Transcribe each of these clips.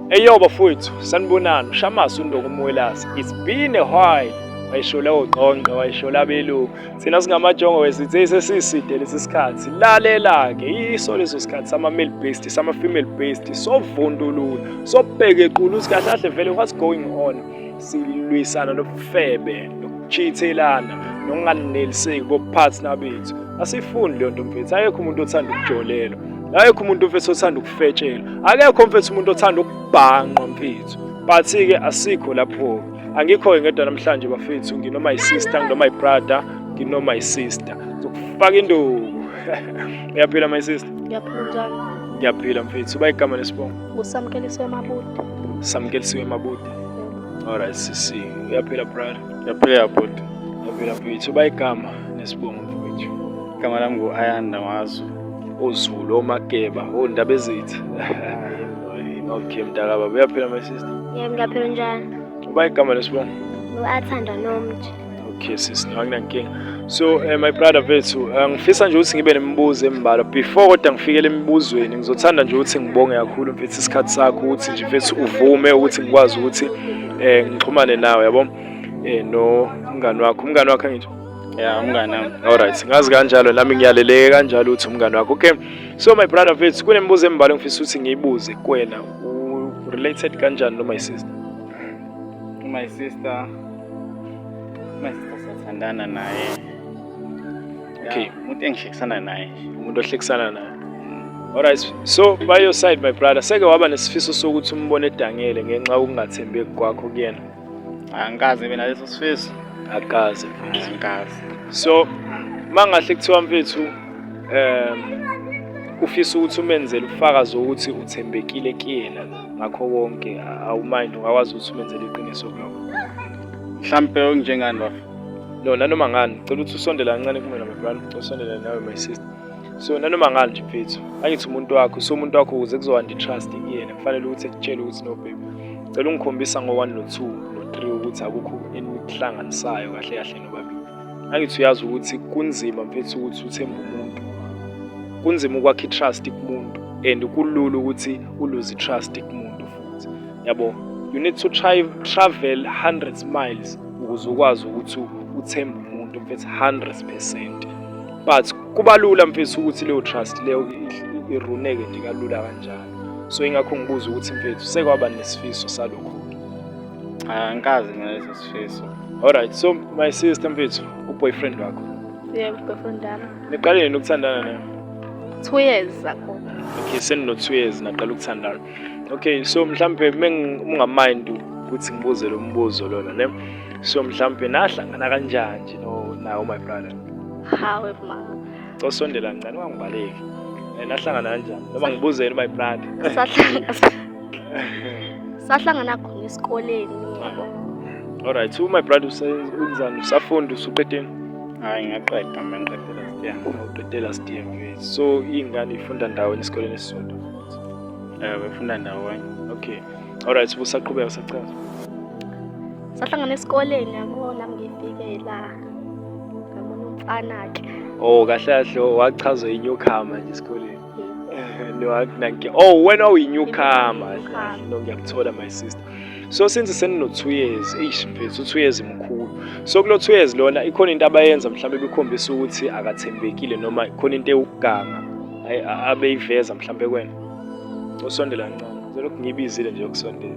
Eyo bafowethu sanibonani uShamasi uNdoko uMwelasi it's been a while wayishola ogqongqe wayishola abelungu thina singamajongo wesithe sesiside lesi sikhathi lalela-ke yiso leso sikhathi sama-male based sama-female based sovundulula sobheka equlu ukuthi kahle kahle vele what's going on silwisana nobufebe nokuchithelana nokunganeliseki kophathina bethu asifundi leyo nto mfethu ayekho umuntu othanda ukujolelwa ayekho umuntu mfethu othanda ukufetshelwa akekho mfethu umuntu othanda ukubhanqwa mfethu but-ke asikho lapho-ke angikho-ke ngedwa namhlanje bafethu nginoma yisister nginoma yibrother nginoma yisister zokufaka induku uyaphila my sister ngiyaphila mfethu uba igama lesibongo Ngusamkelisiwe Mabuti. Samkelisiwe Mabuti. Alright sisi, uyaphila brother. Yaphela bhuti. Uyaphila mfowethu, uba igama nesibongo mfowethu. Igama lami ngu-Ayanda Mazu. Ozulu, omageba, ondaba ezithi. Okay mntakababa, uyaphila my sister. Yebo ngiyaphila njani? Uba igama lesibongo. Ngu-Athanda Nomji. Okay sis, akunankinga. So uh, my brother vethu, eh, ngifisa nje ukuthi ngibe nemibuzo embalwa. Before kodwa ngifikele emibuzweni, ngizothanda nje ukuthi ngibonge kakhulu mfethu isikhathi sakho ukuthi nje mfethu uvume ukuthi ngikwazi ukuthi eh ngixhumane nawe yabo. Eh no umngani wakho, umngani wakho ngisho. Yeah, umngani wami. All right, ngazi kanjalo nami ngiyaleleke kanjalo ukuthi umngani wakho. Okay. So my brother vethu, kunemibuzo embalwa ngifisa ukuthi ngiyibuze kuwena. U related kanjani no my sister? My sister Sithandana naye. Okay. Umuntu engihlekisana naye. Umuntu ohlekisana naye. Mm. Alright. So by your side my brother, seke waba nesifiso sokuthi umbone edangele ngenxa yokungathembeki kwakho kuyena. Angikaze mina leso sifiso. Akaze. Angikaze. So mangahle kuthiwa mfethu um ufisa ukuthi umenzele ufakazi ukuthi uthembekile kuyena ngakho konke awumind ungakwazi ukuthi umenzele iqiniso kuloko mhlampe okunjengani bafo no nanoma ngani cela ukuthi usondele kancane kumina mabhani usondele nawe my sister so nanoma ngani nje mfethu angithi umuntu wakho so umuntu wakho ukuze kuzohanda i-trust kuyena kufanele ukuthi ekutshele ukuthi no baby cela ungikhombisa ngo-one no-two no-three ukuthi akukho enihlanganisayo kahle kahle nobabili Angithi uyazi ukuthi kunzima mfethu ukuthi uthembe umuntu. Kunzima ukwakha i-trust kumuntu and kulula ukuthi uluze i-trust kumuntu futhi. Yabo, you need to try travel hundreds miles ukuze ukwazi ukuthi uthembe umuntu mfethu 100%. But kuba lula mfethu ukuthi leyo trust leyo iruneke nje kalula kanjalo. So ingakho ngibuza ukuthi mfethu sekwaba nesifiso salokho. angikazi mina leso sifiso alright so my sister mfethu uboyfriend wakho yebo boyfriend wami niqale nini ukuthandana naye two years ago okay senino two years naqala ukuthandana okay so mhlampe mengungamind ukuthi ngibuze lo mbuzo lona ne so mhlampe nahlangana kanjani nje no nawo my brother hawe mama cosondela ngani wangibaleki nahlangana kanjani noma ngibuzeni my brother sahlangana khona esikoleni yabo alright so my brother usenzani usafunda usuqedeni hayi ngaqeda mina ngiqedela sitiya uqedela sitiya mfethu so iy'ngane ifunda ndawonye esikoleni esisodwa um befunda ndawonye okay alright so busaqhubeka sachaza sahlangana esikoleni yabona ngifike la ngabona umfana-ke oh kahle kahle wachaza inyukhama nje esikoleni Eh, no akunankinga oh wena uyinyukama no ngiyakuthola my sister so since senino two years eish mfethu two years mkhulu so kulo two years lona ikhona into abayenza mhlawumbe bekhombisa ukuthi akathembekile noma ikhona into ewuganga abeyiveza mhlawumbe kwena usondela kancane selokhu ngibizile nje ukusondela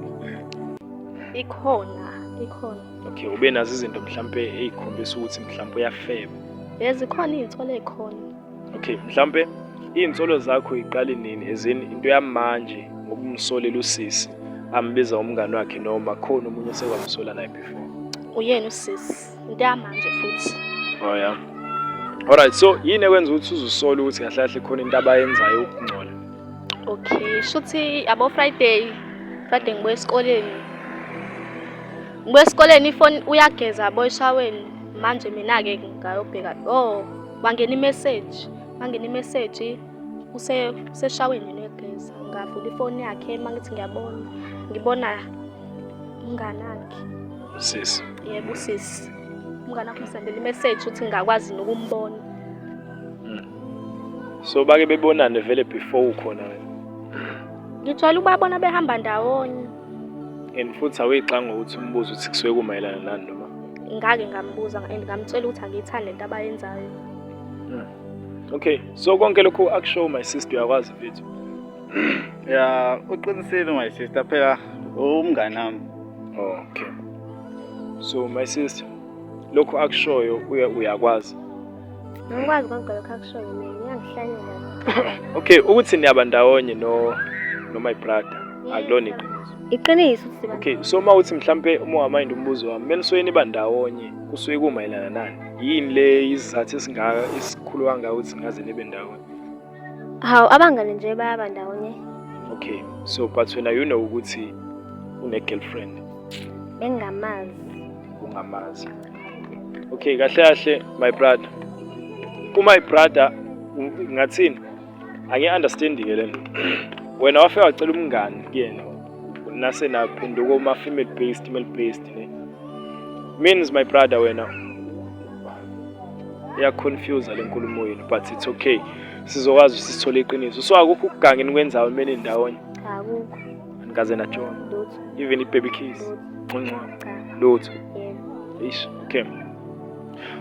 ikhona ikhona okay ube nazo izinto mhlawumbe eyikhombisa ukuthi mhlawumbe uyafeba bezikhona iy'thole khona okay mhlampe iy'nsolo zakho yiqali nini ezin into yamanje ngokumsolela usisi ambiza umngane wakhe noma khona omunye osekwamsola naye before uyena usisi into yamanje futhi oh yeah alright so yini ekwenza ukuthi uzusola ukuthi kahle kahle khona into abayenzayo ukungcola okay shuthi abo friday friday ngibuye esikoleni ngibuye esikoleni ifoni uyageza boyshaweni manje mina-ke ngayobheka oh Wangena i-message, wangena i-message use useshaweni negeza. Ngavula ifoni yakhe mangithi ngiyabona, ngibona umngane wakhe. Usisi. Yebo usisi. Umngane wakhe usendele i-message ukuthi ngingakwazi nokumbona. Hmm. So bake bebonane vele before ukhona wena. Ngijwayele ukubabona behamba ndawonye. And futhi awuyixanga ukuthi umbuzo ukuthi kusuke kumayelana nani noma? Ngake ngambuza and ngamtshela ukuthi angiyithandi lento abayenzayo. Hmm. Okay, so konke lokhu akushow my sister uyakwazi mfethu. Ya, uqinisile my sister phela umngane wami. Okay. So my sister lokhu akushoyo uyakwazi. Ngikwazi konke lokho akushoyo mina ngiyangihlanyela. Okay, ukuthi niyaba ndawonye no no my brother. Akulona iqiniso. Iqiniso ukuthi siba. Okay, so uma uthi mhlambe uma wamind umbuzo wami, mina soyini niba ndawonye kusuke kumayelana nani? Yini le isizathu esingaka esikhulu kangaka ukuthi ngaze nibe ndawonye? Hawu abangane nje bayaba ndawonye. Okay, so but wena you know ukuthi une girlfriend. Bengamazi. Ungamazi. Okay, kahle kahle my brother. Ku my brother ngathini? Angi understand ke lento. Wena wafika wacela umngani kuyena. nase naphenduka uma female based male based ne means my brother wena ya confuse le nkulumo yenu but it's okay sizokwazi sisithole iqiniso so akukho ukugangeni kwenzawo imene ndawonye akukho anikaze najona even ibaby kiss nconco lutho ish okay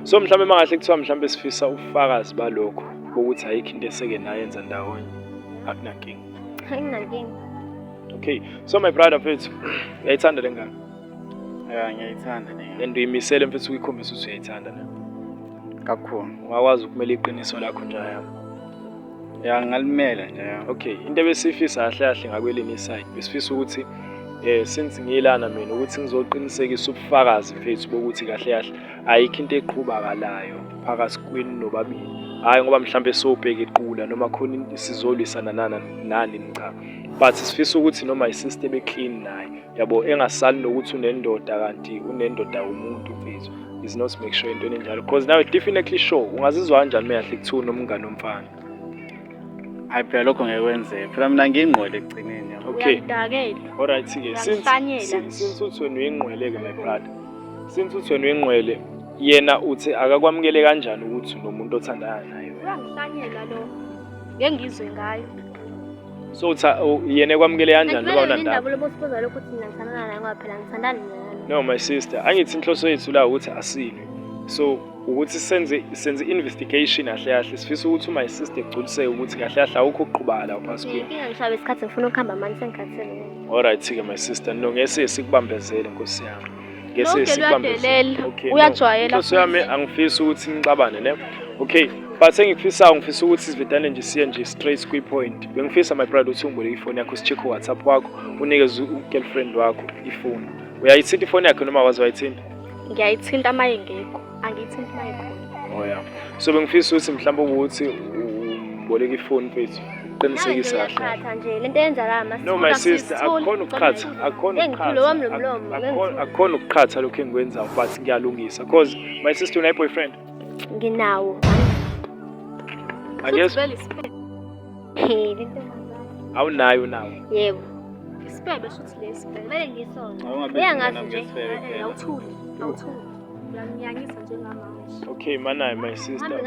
so mhlawumbe mangahle kuthiwa mhlawumbe sifisa ubufakazi balokho ukuthi ayikho into eseke nayenza ndawonye akunankinga Anginankinga. Okay. So my brother mfethu, uyayithanda le ngane? Yeah, ngiyayithanda le ngane. And uyimisele mfethu ukuyikhombisa ukuthi uyayithanda na? Kakhulu. Ungakwazi ukumela iqiniso lakho nje yami. Ya ngalimela nje. Okay, into ebesifisa kahle kahle ngakwelini iside. Besifisa ukuthi eh since ngiyilana mina ukuthi ngizoqinisekisa ubufakazi mfethu bokuthi kahle kahle ayikho into eqhubakalayo phakathi kwenu nobabili hhayi ngoba mhlawumbe sobheka iqula noma khona sizolwisana nana nani cha but sifisa ukuthi noma isista ebe clean naye yabo engasali nokuthi unendoda kanti unendoda yomuntu mfethu is not make sure into enjalo because nawe definitely sure ungazizwa kanjani meyahle kuthiwa unomngane omfana hayi phela lokho ngeke kwenzeke phela mina ngiyingqwele ekugcineni yabo okay uyangidakela alright ke Uyangihlanyela since nje. since uthi wena uyingqwele ke my brother since uthi wena uyingqwele yena uthi akakwamukele kanjani ukuthi unomuntu othandana naye wena uyangihlanyela lo ngeke ngizwe ngayo so uthi u- yena ekwamukele kanjani loba Akumele unandaba indaba lobosibuza lokho ukuthi mina ngithandana naye ngoba phela ngithandani naye no my sister angithi inhloso yethu la ukuthi asilwe so ukuthi senze senze investigation kahle kahle sifisa ukuthi uma isister egculiseke ukuthi kahle kahle awukho uqhubala la phansi kuyo inkinga ngishabe isikhathi ngifuna ukuhamba manje sengikhathele alright ke my sister no ngese sikubambezele nkosi yami ngese sikubambezele okay uyajwayela nkosi yami angifisi ukuthi nixabane ne okay but engikufisayo ngifisa ukuthi sivedane nje siye nje straight kwi point bengifisa my brother uthi ungibole ifoni yakho sicheck whatsapp wakho unikeze u girlfriend wakho ifoni uyayithinta ifoni yakhe noma wazi wayithinta ngiyayithinta uma ingekho angiyithinti uma ikhona oya oh, so bengifisa ukuthi mhlawumbe ukuthi uboleka ifoni mfethu qinisekisa kahle nje lento eyenzakala mase no my sister akukhona ukuqhatha akukhona ukuqhatha akukhona ukuqhatha lokho engikwenzayo but ngiyalungisa cause my sister unayi boyfriend nginawo angiyezwa awunayo unawo yebo isibebe shuthi lesi kumele ngisona uyangazi nje awuthuli awuthuli uyangiyangisa njengamanje okay manayi my sister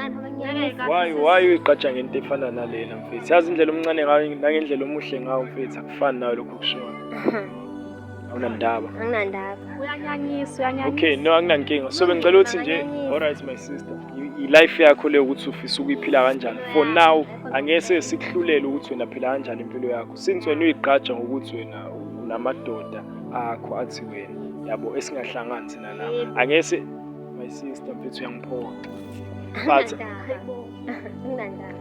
why why uyiqatsha ngento efana nalena mfethu yazi indlela omncane ngayo nangendlela omuhle ngawo mfethu akufani nayo lokhu kushiwo awunandaba anginandaba uyanyanyisa uyanyanyisa okay no anginankinga so bengicela ukuthi nje Uyanyanyisa. alright my sister i- i-life yakho leyo ukuthi ufisa ukuyiphila kanjani for now angese sikuhlulele ukuthi wena phila kanjani impilo yakho since wena uyigqaja ngokuthi wena unamadoda akho athi wena yabo esingahlangani thina la angese my sister mfethu uyangiphoxa but Anginandaba. Anginandaba.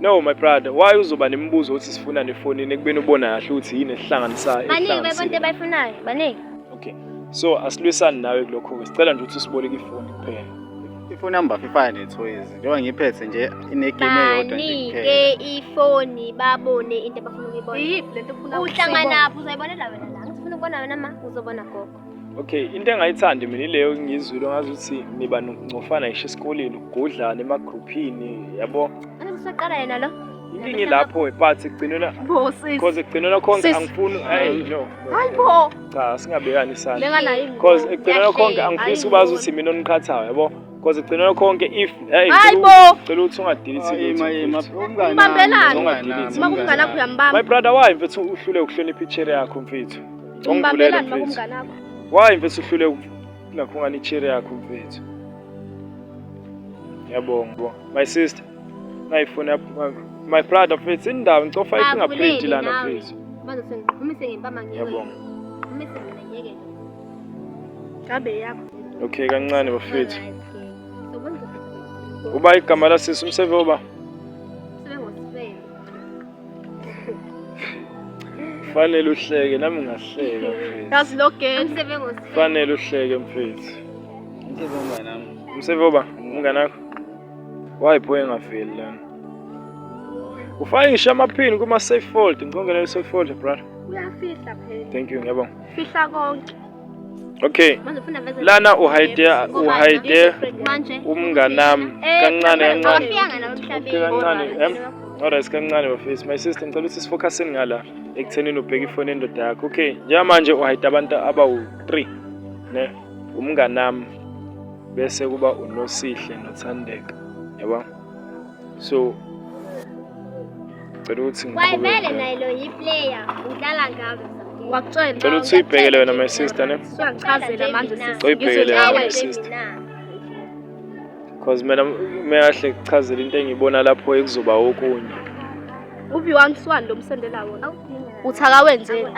No my brother, why uzoba nemibuzo ukuthi sifuna nefonini ekubeni ubona kahle ukuthi yini esihlanganisayo. Baningi bebonto abayifunayo, baningi. Okay. So asilwisani nawe kulokho ke. Sicela nje ukuthi usiboleke ifoni kuphela. Ifoni number fifana nethoyizi. Njengoba ngiphethe nje inegame eyodwa nje kuphela. Banike ifoni babone into abafuna ukuyibona. Iyiphi lento ofuna ukuyibona? Uhlanganaphi uzoyibonela wena la. Ngifuna ukubona wena ma uzobona gogo. Okay, into engayithandi mina ileyo ngizwile ngazi ukuthi niba nokungcofana ngisho esikoleni ukugudlana emagruphini yabo. Ana msaqala yena lo. Inkingi lapho but ekugcinela because ekugcinela konke angifuni hey no. Hayi bo. Cha singabekani isandla. Lenga nayi. Because ekugcinela konke angifisi ubazi ukuthi mina oniqhathayo yabo. Because ekugcinela konke if hey Hayi bo. Cela ukuthi ungadilisi lutho. Umbambelani. Uma kunganakho uyambamba. My brother why mfethu uhlule ukuhlonipha i-chair yakho mfethu. Ungibambelani mfethu. makumngane akho? Why mfethu uhlule ukungakhungana i-chair yakho mfethu? Ngiyabonga bo. My sister. Nayifuna my, my brother mfethu indawo ngicofa Ah, i-fingerprint Avulile lana nawe. mfethu. Manje sengiqhumise ngempama ngiwe. Ngiyabonga. Qhumise mina ngeke. Ngabe yakho. Okay kancane bafethu. Uba igama lasisi umsebe oba Sebengosifebe. Fanele uhleke nami ngahleka mfethu. Yazi lo girl. Umsebenzi wesifebe. Fanele uhleke mfethu. Umsebenzi oba umngane wakho. Why boy engafeli lana? Ufake ngisho amaphini kuma safe fold. Ngicongela i safe fold brother. Uyafihla phela. Thank you ngiyabonga. Fihla konke. okay lana uhide uhide umnganami kancane kancane okay kancane em alright kancane bafethu my sister ngicela ukuthi sifocuseni ngala ekuthenini ubheke ifoni endoda yakho okay njengamanje uhide abantu abawu-three ne umnganami bese kuba unosihle nothandeka yabona so cela ukuthi wayivele naye lo yiplayer udlala ngabo wakutshela cela ukuthi uyibhekele wena my sister ne siyakuchazela manje sisi uyibhekele wena my sister because mina meyahle kuchazela into engiyibona lapho ekuzoba okunye ubi one swan lo msendela wona uthaka wenzeni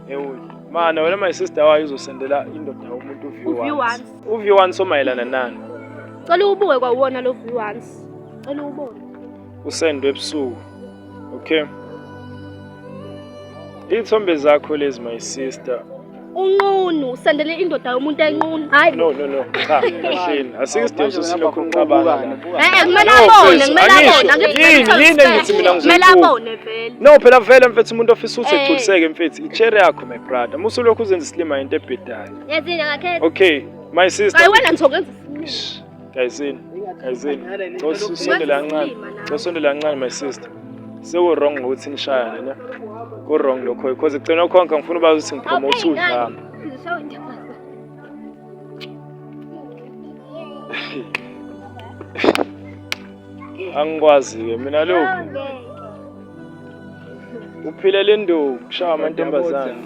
ewuyi mana wena my sister wayo uzosendela indoda umuntu uvi once Uvi wani somayelana nani? Cela ubuke kwawona lo view once. Cela ubone. Usendwe ebusuku. Okay. Ithombe zakho lezi my sister. Unqunu usendele indoda yomuntu enqunu. Hayi. No no no. Cha, mashini. Asikusidingo sosilokhu uqabana. Eh, kumele abone, kumele abone. Angikuthi yini engithi mina ngizokubona. Kumele abone vele. No, phela vele mfethu umuntu ofisa ukuthi eh. egculiseke mfethu. Ichere yakho my brother. Musulokhu uzenza isilima into ebhedayo. Yazini akakhethe. Okay, my sister. Hayi wena ngizokwenza isinqumo. Gayizini, gayizini. Cosonde lancane. Cosonde lancane my sister. Sewu wrong ngokuthi nishayane ne. Ku wrong lokho because ugcina ukhonka ngifuna ubazi ukuthi ngipromote udlama. Angikwazi-ke mina lokhu. Uphile le ndoku, kushaya amantombazane.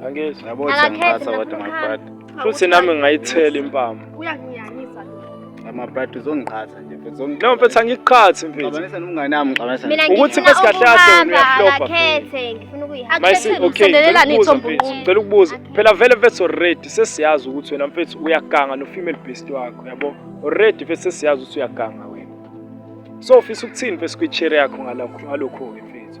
Angezi. Yabo Akakhethi sengiphatha kodwa ngifuna mabhadi. ukuhamba. Futhi nami ngayithela impama. Uyanginyanyisa lo. Amabhadi uzongiqhatha nje mfethu. Uzongi- No mfethu angiqhathi mfethu. Xabanisa nomngane wami, xabanisa. Mina Ukuthi ngifuna bese kahle kahle wena ukuhamba uyaflopa, akakhethe ngifuna ukuyihamba. My sis, Akhethe okay, ngicela ukusondelelana ukubuza ithombo mfethu. umuntu. Ngicela ukubuza. Phela vele mfethu already sesiyazi ukuthi wena mfethu uyaganga no female beast wakho, yabo? Already mfethu sesiyazi ukuthi uyaganga wena. So ufisa ukuthini mfethu kwi-chair yakho ngalokho ngalokho ke mfethu?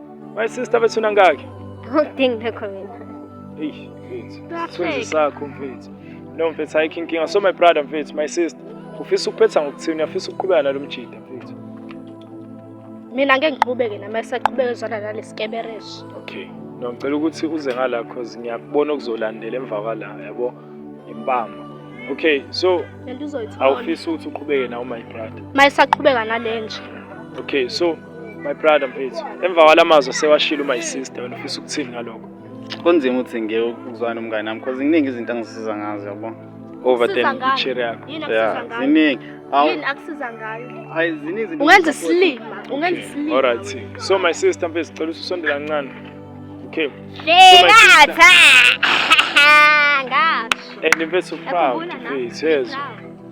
My sister bethuna ngaki? Udingi nakho mina. Eish, mfethu. Sithunzi sakho mfethu. No mfethu ayikho inkinga. So my brother mfethu, my sister. Ufisa ukuphetha ngokuthini? Uyafisa ukuqhubeka nalo mjida mfethu. Mina ngeke ngiqhubeke nami esaqhubeka ezwana nalesikebereshi. Okay. No ngicela ukuthi uze ngala cause ngiyakubona okuzolandela emva kwala, yabo? Impama. Okay, so awufisa ukuthi uqhubeke nawo my brother. Mayisaqhubeka nalenje. Okay, so My brother mfethu, emva kwala mazwi sewashilo my sister wena ufisa ukuthini ngalokho? Kunzima ukuthi ngiye ukuzwana nomngane nami because kuningi izinto angisiza ngazo yabo. Over Siza then ngani? chair yakho. Yini Yeah, akusiza ngayo? ziningi. Awu, Yini akusiza ngayo? ayi ziningi izinto. Ungenza engisupport. isilima, ungenza isilima. All right. So my sister mfethu cela usondela kancane. Okay. Ngatha. Ngasho. And mfethu proud Yakhumbula nami. mfethu yezwa. Proud.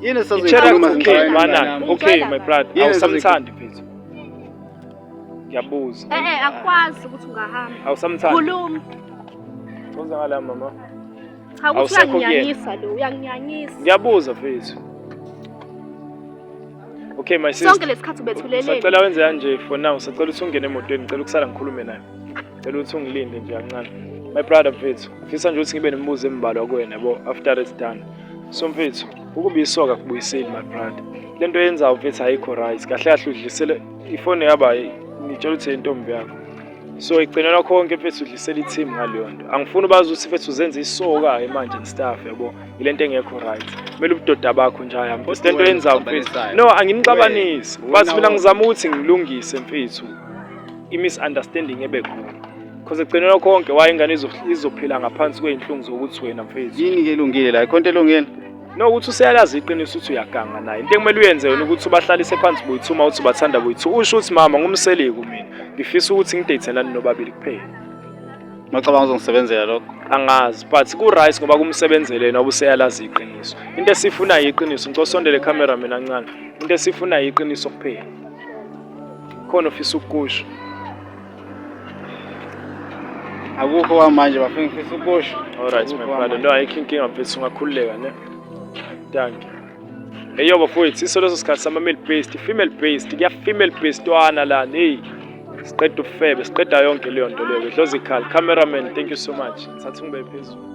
Yini esazoyikhuluma okay mana okay my brother awusamthandi mfethu ngiyabuza eh eh akwazi ukuthi ungahamba awusamthandi khuluma Uza ngala mama cha ukuthi uyanginyanyisa lo uyanginyanyisa ngiyabuza mfethu Okay my sister. Sonke lesikhathi ubethuleleni. Sacela wenze kanje for now. Sacela ukuthi ungene emotweni. Ngicela ukusala ngikhulume naye. Ngicela ukuthi ungilinde nje kancane. My brother mfethu. Ngifisa nje ukuthi ngibe nemibuzo embalwa kuwena yabo after it's done. Somfethu, ukuba isoka kubuyiseli my brother. Lento yenza umfethu ayikho right. Kahle kahle udlisele ifone yaba ngitshela ukuthi intombi yakho. So igcinela konke mfethu udlisela i-team ngaleyo nto. Angifuni bazi ukuthi mfethu uzenza isoka ke manje and stuff yabo. Ilento engekho right. Kumele ubudoda bakho nje haya mfethu. Lento yenza mfethu. No, anginixabanisi. Bathi mina ngizama ukuthi ngilungise mfethu. I-misunderstanding ebe khona. Cause ekugcinela konke waye ingane izophila ngaphansi kwey'nhlungu zokuthi wena mfethu. Yini ke elungile la? Ikhonto elungile? No ukuthi useyalazi iqiniso ukuthi uyaganga naye. Into ekumele uyenze yona ukuthi ubahlalise phansi boyithuma uthi ubathanda boyithu. Usho ukuthi mama ngumseleku mina. Ngifisa ukuthi ngideyithelane nobabili kuphela. Macabanga uzongisebenzela lokho. Angazi but ku right ngoba kumsebenzele yena obuseyalazi iqiniso. Into esifuna yiqiniso. Ngicela usondele camera mina kancane. Into esifuna yiqiniso kuphela. Khona ofisa ukukusho. akukho kwamanje bafike ngifisa ukusho alright my brother no ayikho inkinga mfethu ungakhululeka ne thank you eyo bafowethu iso leso sikhathi sama-male based female based kuya-female based wana lana eyi siqeda ubufebe siqeda yonke leyo nto leyo idlozikhali cameraman thank you so much ngithatha ungibe phezulu